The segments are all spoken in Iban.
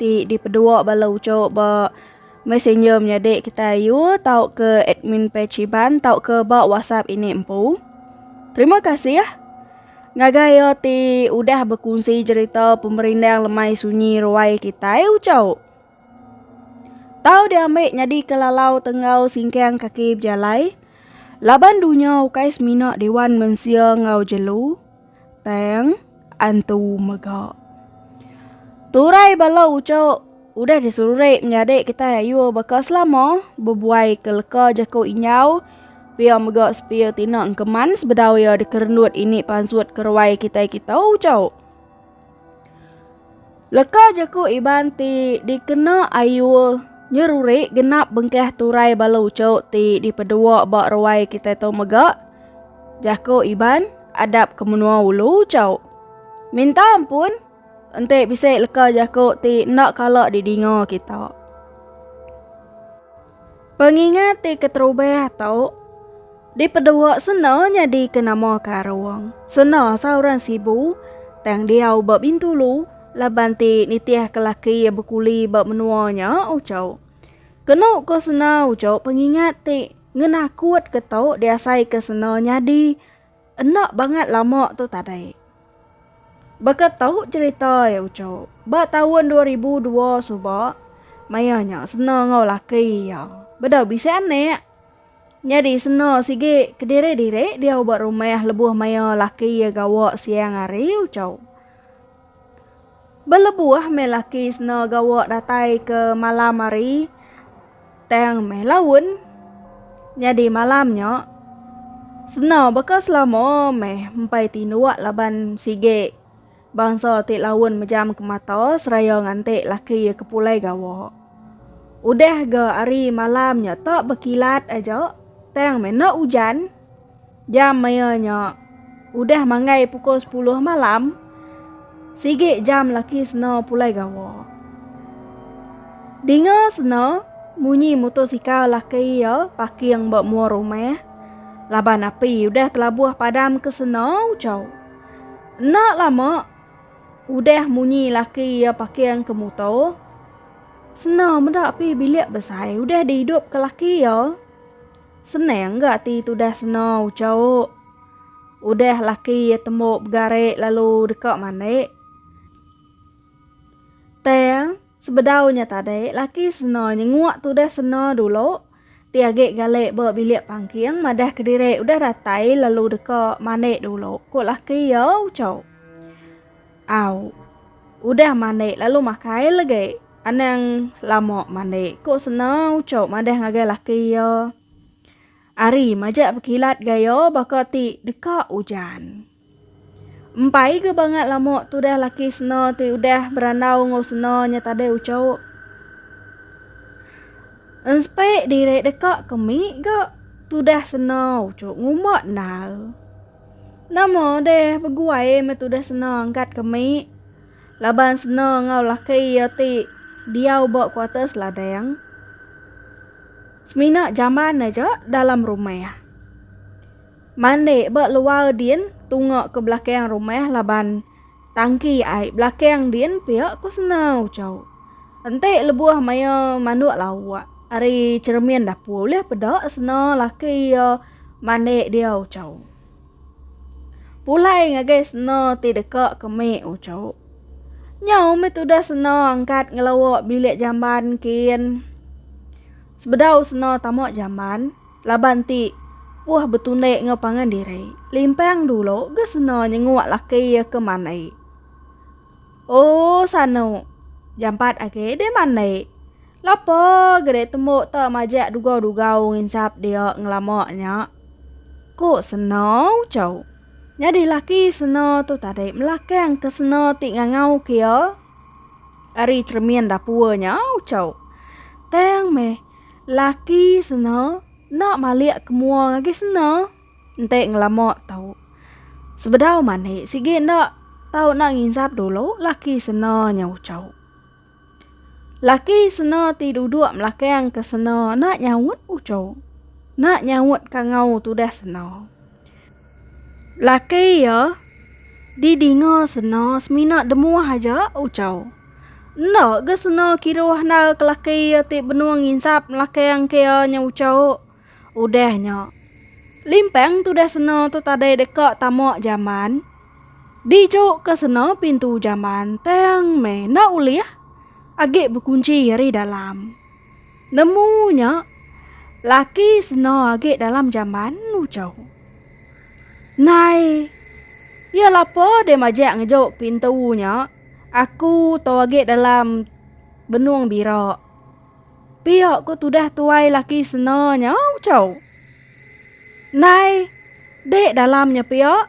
ti dipedua bala uchu ba messenger menyadi kitai ayu tauka admin page Iban tauka ba WhatsApp ini empu. Terima kasih ngagai iya ti udah bekunsi jerita pemerindang lemai sunyi ruai kitai uchu. Tau diambi nyadi ke lalau tenggau singkang kaki bejalai laban dunya ukai semina dewan mensia enggau jelu. Tang antu mega. Turai bala uco udah disurek menyadi kita ayu baka selama bebuai ke leka jaku inyau pia mega sepia tina engkeman sebedau ia dikerenut ini pansut keruai kita kita uco. Leka jaku Iban ti dikena Ayul nyeruri genap bengkah turai bala uchu ti dipedua ba ruai kitai tu mega jaku Iban adap ke menua ulu uchu. Minta ampun enti bisi leka jaku ti enda kala didinga kita. Pengingat ti keterubah tu. Di pedua sena nyadi ke nama karung. Sena sauran sibu tang diau ba Bintulu laban ti nitih ke laki iya bekuli ba menua nya ucau. Kenu ko sena ucau pengingat ti ngenakut ke to diasai ke sena nyadi enda bangat lama tu tadai. Baka to cerita iya ucau ba taun dua ribu dua suba maya nya sena enggau laki iya bedau bisi anak. Nyadi seno sigi kediri-diri diau ba rumah lebuh maya laki iya gawa siang hari ucau. Belebuh meh laki seno gawa datai ke malam hari tang meh laun. Nyadi malam nya seno baka selama meh empai tinduk laban sigi. Bansa ti laun mejam ke mata seraya nganti laki iya ke pulai gawa. Udah ga ari malam nya ta bekilat aja tang mena ujan. Jam maya nya udah manggai pukul sepuluh malam. Sigi jam laki sena pulai gawa. Dinga sena munyi mutosikal laki iya paking ba mua rumah laban api udah telabuh padam ke sena ucau. Enda lama udah munyi laki iya paking ke muto. Sena meda pi bilik besai udah dihidup ke laki iya. Senang ga ati tudah sena uco. Udah laki iya tembu begare lalu deka mandi. Tang. Sebedau nya tadi, laki seno nyenguk tudah seno dulu, ti agi galik ba bilik pangking madah kediri udah datai lalu deka mandi dulu, ku laki iya uchau. Au. Udah mandi lalu makai lagi. Anang lama mandi, ku seno uchau madah ngagai laki iya. Ari majak bekilat gaya baka ti deka ujan. Empai ga bangat lama tudah laki sena ti udah berandau enggau sena nya tadai ucho. Enspe diri deka ke mi ga tudah sena ucho ngumba endar. Nama deh beguai meh tudah sena angkat ke mi laban sena enggau laki iya ti diau ba kuarters ladang semina jamban aja dalam rumah. Mandi ba luar din tunga ke belakang rumah laban tangki ai belakang din pia ku sena Uchau. Enti lebuh maya manduk lauk ari cheremin dapur ulih peda sena laki iya mandi dia Uchau. Pulai ngagai sena ti deka ke mik Uchau. Nyau mih tudah sena angkat ngelawa bilik jamban kin. Sebedau sena tama jamban, Laban ti, Puh betundi enggau pangan diri, limpang dulu ga seno nyenguk laki iya ke mandi. Ooh sano, jampat agi deh mandi. Lapa ga deh tembu ta majak dugau-dugau nginsap dia ngelama nya. Ku seno ucau. Nyadi laki seno tu tadi melakang ke seno ti ngangau ke iya ari cheremin dapur nya ucau. Tang meh. Laki sena enda malik ke mua ngagai sena enti ngelama tau. Sebedau mani sigi enda tau enda nginsap dulu laki sena nya ucau. Laki sena ti duduk melakang ke sena enda nyaut ucau. Enda nyaut kangau tudah sena. Laki iya didinga sena semina demuah aja Uchau. Enda ga sena kiruh enda ke laki iya ti benung nginsap ngelakang ke iya nya Uchau. Udah nya limpang tudah sena tu tadai deka tama jaman dijukka sena pintu jaman tang meh enda ulih agi bekunchi ari dalam. Nemu nya laki seno agi dalam jamban ucho. Nai. Iya lapa deh majak ngejo pintu nya. Aku to agi dalam benung bira. Pia ko tudah tuai laki seno nya ucho. Nai. Dek dalam nya pia.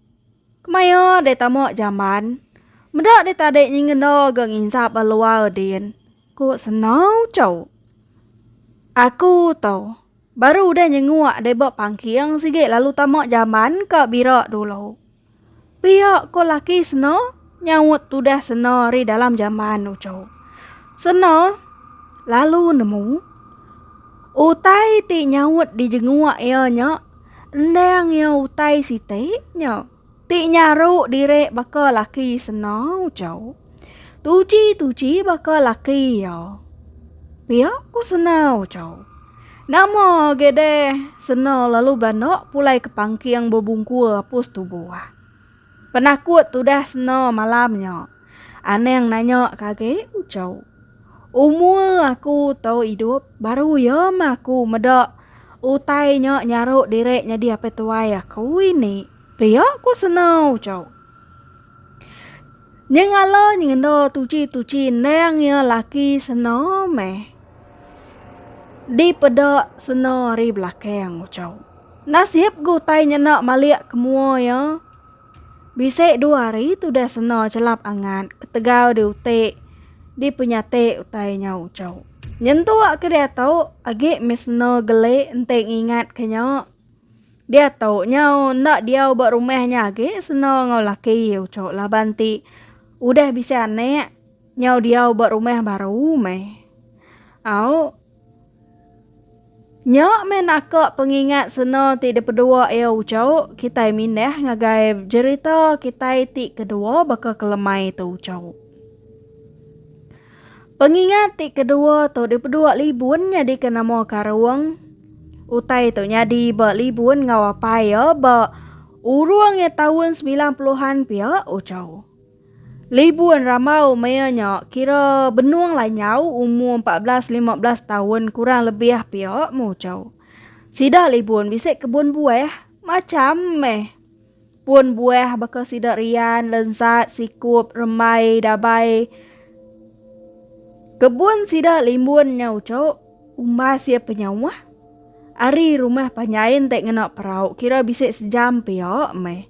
Kemaya deh tama jamban. Meda deh tadi nyi ngena ga nginsap ba luar din, ku Senau Chau. Aku tu, baru udah nyenguk deh ba pangking sigi lalu tama jamban ka bira dulu. Pia ko laki Senau. nyaut tudah sena ri dalam jamban uco. Sena lalu nemu utai ti nyaut di jengua iya nya endang iya utai siti nya ti nyaru diri baka laki sena uco. Tuchi-tuchi baka laki iya. Pia ku sena uco. Nama agi deh sena lalu belanda pulai ke pangking bebungkur apus tubuh. Penakut tudah seno malam nya. Anang nanya ke agi Ucho. Umur aku tu idup baru ya meh aku meda utai nya nyaru diri nyadi apai tuai aku ini. Pia ku seno Ucho. Nyengala nyengenda tuchi-tuchi endang iya laki seno meh dipeda seno ari belakang Ucho. Nasib ke utai nyena malik ke mua iya, bisi dua hari tudah sena chelap angat ketegal diuti dipenyati utai nya uchu. Nyentuk ke diatu agi mih sena geli enti ngingat ke nya. Diatu nya enda diau ba rumah nya agi sena enggau laki iya uchu laban ti udah bisi anak nyau diau ba rumah baru meh. Au. Nya meh naka pengingat sena ti dipedua iya uco kitai mindah ngagai jerita kitai ti kedua baka ke lemai tu uco. Pengingat ti kedua tu dipedua libun nyadika nama karung. Utai tu nyadi ba libun enggau apai iya ba urung iya taun semilan puluhan pia uco. Libun rambau maya nya kira benung lanyau umur 14-15 taun kurang lebih pia muchau. Sida libun bisi kebun buah macham meh. Pun buah baka sida rian, lensat, sikup, rembai, dabai. Kebun sida limbun nya uchu umbas ia penyauh. Ari rumah panyain te ngena perau kira bisi sejam pia meh.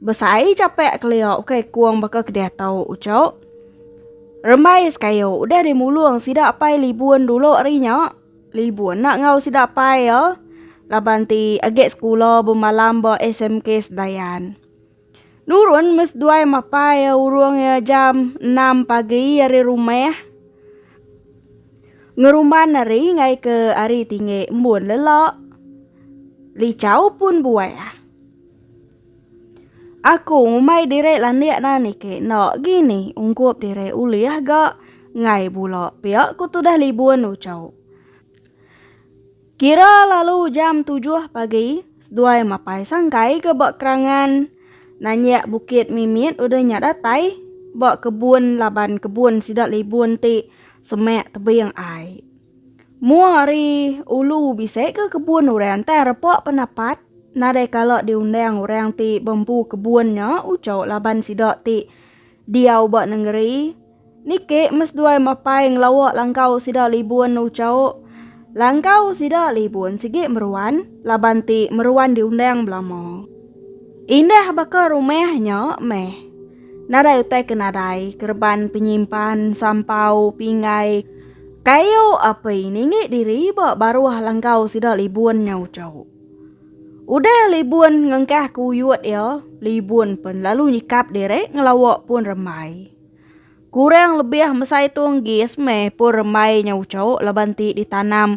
Besai japek kelia ukai kung baka ke diatu ucuk. Rembai is kayu udah dimulung sida apai libun dulu ari nya. Libun enda enggau sida apai iya laban ti agi sekula bemalam ba SMK Sedayan. Nurun meh seduai mapai iya urung iya jam enam pagi ari rumah. Ngerumban ari enggai ke ari tinggi embun lelak. Lichau pun buah. Aku ngumbai diri landik nah niki enda gini ungkup diri ulih ga ngai bula pia ku tudah libun ucau. Kira lalu jam tujuh pagi seduai mapai sangkai ke ba kerangan nanyak bukit mimit udah nya datai ba kebun laban kebun sida libun ti semak tebing ai. Mua ari ulu bisi ke kebun orang tai repa penapat nadai kala diundang orang ti bempu kebun nya ujo laban sida ti diau ba nengeri niki meseduai mapai ngelawa langkau sida libun ujo langkau sida libun sigi meruan laban ti meruan diundang belama. Indah baka rumah nya meh. Nadai utai ke nadai kereban penyimpan sampau pinggai kayu api ningi diri ba baruh langkau sida libun nya ucau. Udah libun ngengkah ke uyut iya, libun pen lalu nyikap diri ngelawa pun rembai. Kurang lebih mesai tung gis meh pun rembai nya ucau laban ti ditanam.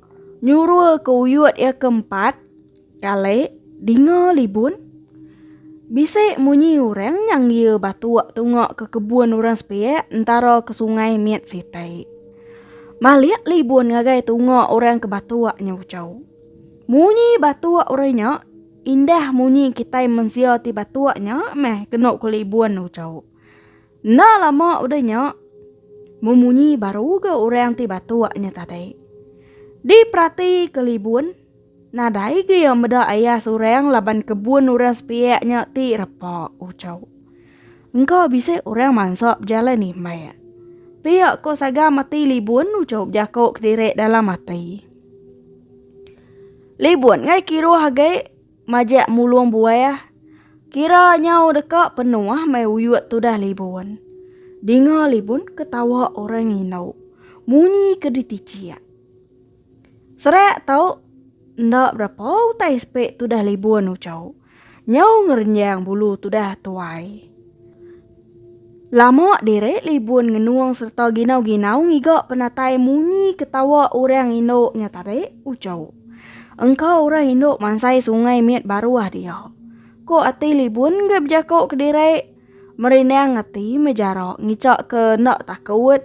Nyurul ke uyut iya ke empat kali dinga libun. Bisi munyi orang nyang iya batuk tunga ke kebun orang sepiak entara ke sungai mit siti. Malik libun ngagai tunga orang ke batuk nya uchu. Munyi batuk orang nya indah munyi kitai mensia ti batuk nya meh kenu ke libun uchu. Enda lama udah nya, memunyi baru ga orang ti batuk nya tadi. Diperati ke Libun, nadai ga iya meda ayas orang laban kebun orang sepiak nya ti repa ucau. Engka bisi orang mansa bejalai nimbak. Pia ko sagam ati Libun ucau bejaku kediri dalam ati. Libun ngai kiruh agi. Majak mulung buah. Kira nyau deka penuh mai uyuk tudah libun. Dinga libun ketawa orang indu. Munyi ke ditichik. Serak tau enda berapa utai sepek tudah libun ucau. Nyau ngerenjang bulu tudah tuai. Lama diri libun ngenung sereta ginau-ginau ngiga penatai munyi ketawa orang indu nya tadi, uco. Engka orang indu mansai sungai mit baruh dia. Ko ati libun enggai bejako ke diri, merindang ati mejara ngica ke enda takut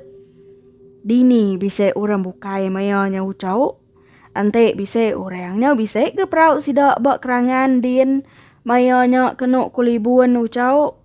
dini bisi orang bukai maya nya uco. Enti bisi orang nya bisi ke perau sida ba kerangan din maya nya kenu ko libun uco.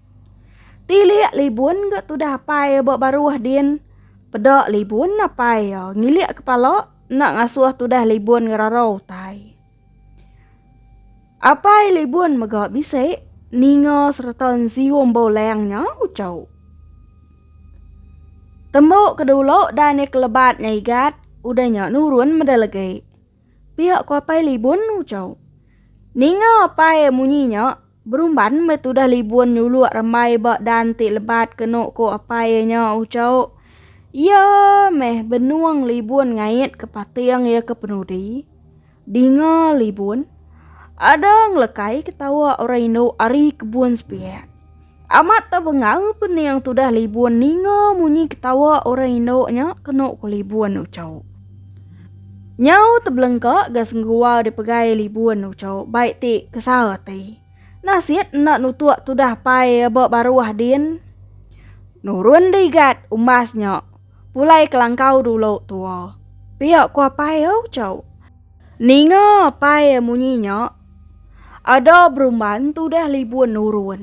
Tilik libun ga tudah apai ya ba baruh din. Peda libun apai ya ngilik kepala enda ngasuh tudah libun ngerarau utai. Apai libun mega bisi ninga sereta nzium bau lang nya uchu. Tembu ke dulu dan ya kelebat nya igat udah nya nurun meda legi. Pia ku apai libun uchu. Ninga apai munyi nya. Berumban meh tudah libun nyuluk rembai ba dan ti lebat kenu ko apai iya nya Uchauk. Iya meh benung libun ngait ke pating iya ke penudi. Dinga libun, ada ngelekai ke tawa orang indu ari kebun sepiak. Amat tebengal pening tudah libun ninga munyi ke tawa orang indu nya kenu ko libun Uchauk. Nyau tebelengka ga sengguau dipegai libun uco bai ti kesa ati. Nasit enda nutuk tudah pai ba baruh din. Nurun digat umbas nya pulai kelangkau dulu tua. Pia ku apai uco. Ninga apai munyi nya ada berumban tudah libun nurun.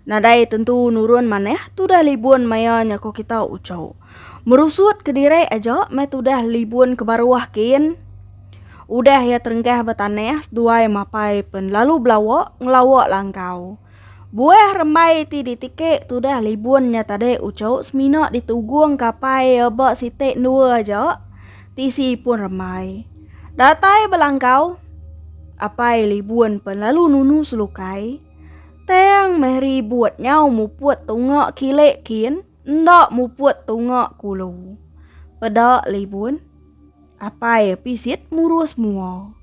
Nadai tentu nurun manah tudah libun maya nya ko kita uco. Merusut kediri aja meh tudah libun ke baruh kin. Udah iya terengkah ba tanah seduai mapai pen lalu belawa ngelawa langkau. Buah rembai ti ditiki tudah libun nya tadi uco semina ditugung kapai iya ba siti endua aja tisi pun rembai. Datai belangkau apai libun pen lalu nunu selukai. Tang meh ribut nyau muput tunga kile kin enda muput tunga kulu. Peda libun, apai pisit murus mua.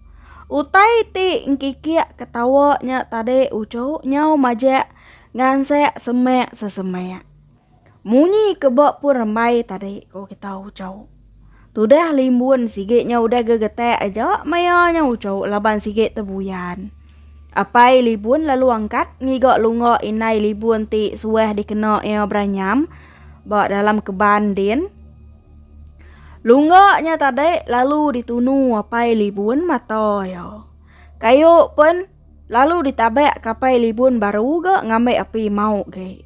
Utai ti engkikik ketawa nya tadi uchu nyau majak ngansek semak sesemak. Munyi ke ba pun rembai tadi ko kita uco. Tudah limbun sigi nya udah gegetak aja maya nya uco laban sigi tebuyan. Apai libun lalu angkat ngiga lunga indai libun ti suah dikena iya beranyam ba dalam keban din. Lunga nya tadi lalu ditunu apai libun mata iya. Kayu pen lalu ditabak ke apai libun baru ga ngambi api mau gi.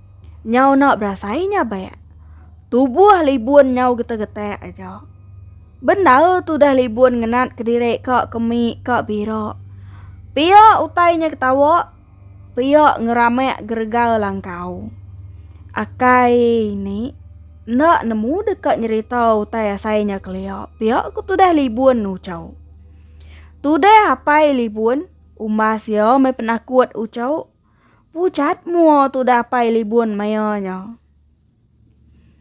Nyau enda berasai nya bek. Tubuh libun nyau getek-getek aja. Bendar tudah libun ngenat kediri ka kemi ka bira. Pia utai nya ketawa, pia ngeramek geregar langkau. Akai ini enda nemu deka nyerita utai asai nya kelia, pia ku tudah libun ucau. Tudah apai libun umbas iya meh penakut ucau. Pucat mua tudah pai libun maya nya.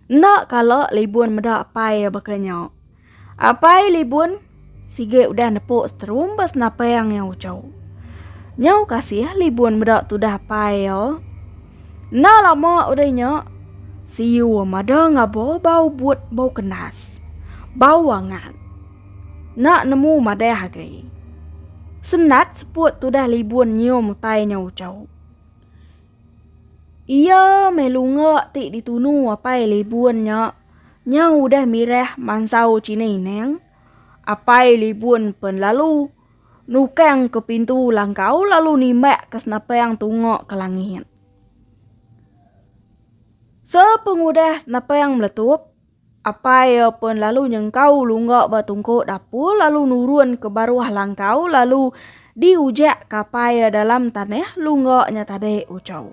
Enda kala libun meda pai baka nya. Apai libun sigi udah nepuk seterumbas napang nya ucau. Nyau kasih libun meda tudah pai ya. Enda lama udah nya, siu mada ngabo bau but bau kenas. Bau angat. Enda nemu madah agai. Senat seput tudah libun nyium utai nya ucau. Iya meh lunga ti ditunu apai libun nya nya udah mirah mansau china inang. Apai libun pen lalu nukang ke pintu langkau lalu nimbak ke senapang tunga ke langit. Sepengudah senapang meletup, Apai iya pun lalu nyengkau lungga ba tungkuk dapur lalu nurun ke baruh langkau lalu di ujak ke apai iya dalam tanah lungga nya tadi ucau.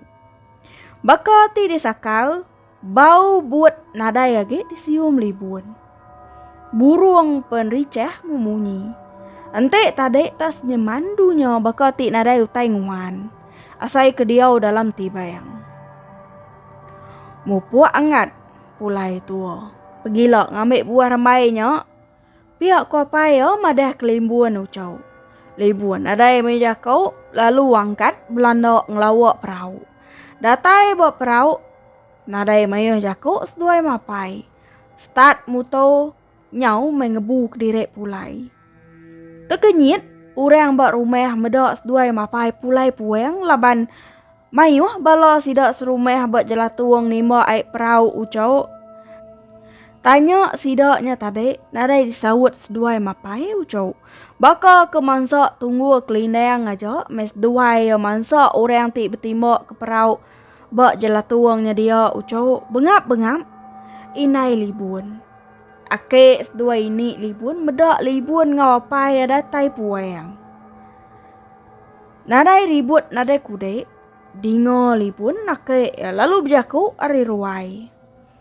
Baka ti di sakal, bau but nadai agi di sium libun. Burung pen ricah memunyi. Enti tadi ta senyeman dunya baka ti nadai utai nguan. Asai ke diau dalam tibang. Mupuk angat Pulai tua. Pegila ngambi buah rembai nya. Pia ko apai iya madah ke Limbun Ucho. Limbun nadai meh jako lalu angkat belanda ngelawa perau. Datai ba perau nadai mayuh jako seduai mapai. Start muto. Nyau meh ngebu kediri pulai. Tekenyit orang ba rumah meda seduai mapai pulai puang laban mayuh bala sida serumah ba jelatung nimba ai perau uco. Tanya sida nya tadi nadai disaut seduai mapai uco. Baka ke mansa Tunggul Kelindang aja meh seduai mansa orang ti betimba ke perau. Ba jelatung nya dia uchu bengap-bengap indai Libun. Ake seduai ini Libun meda Libun enggau apai iya datai puang. Nadai ribut nadai kudik, dinga Libun ake iya lalu bejaku ari ruai.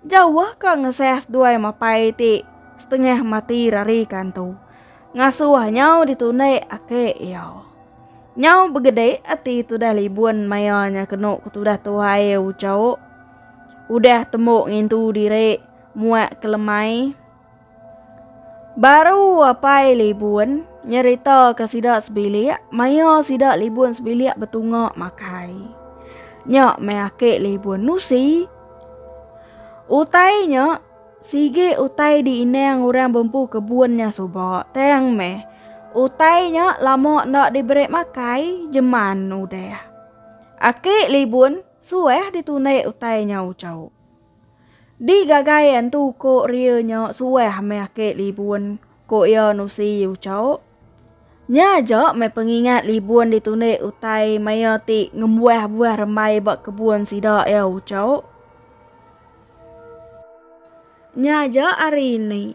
Jauh ka ngesah seduai mapai ti setengah mati rari kantu. Ngasuh nyau ditundi ake iya. Nyau begede ati tudah libun maya nya kenu ke tudah tuhai uchauk. Udah tembu ngintu diri muak ke lemai. Baru apai Libun nyeritaka sida sebilik maya sida Libun sebilik betunga makai. Nya meh aki Libun nusi. Utai nya sigi utai diinang orang bempu kebun nya suba tang meh utai nya lama enda diberi makai jeman udah. Aki Libun suah ditunik utai nya ujau. Di gagai antu ko ria nya suah meh ake libun ko iya Nusi Uchau. Nya aja meh pengingat libun ditundi utai maya ti ngembuah buah rembai ba kebun sida iya Uchau. Nya aja ari ini.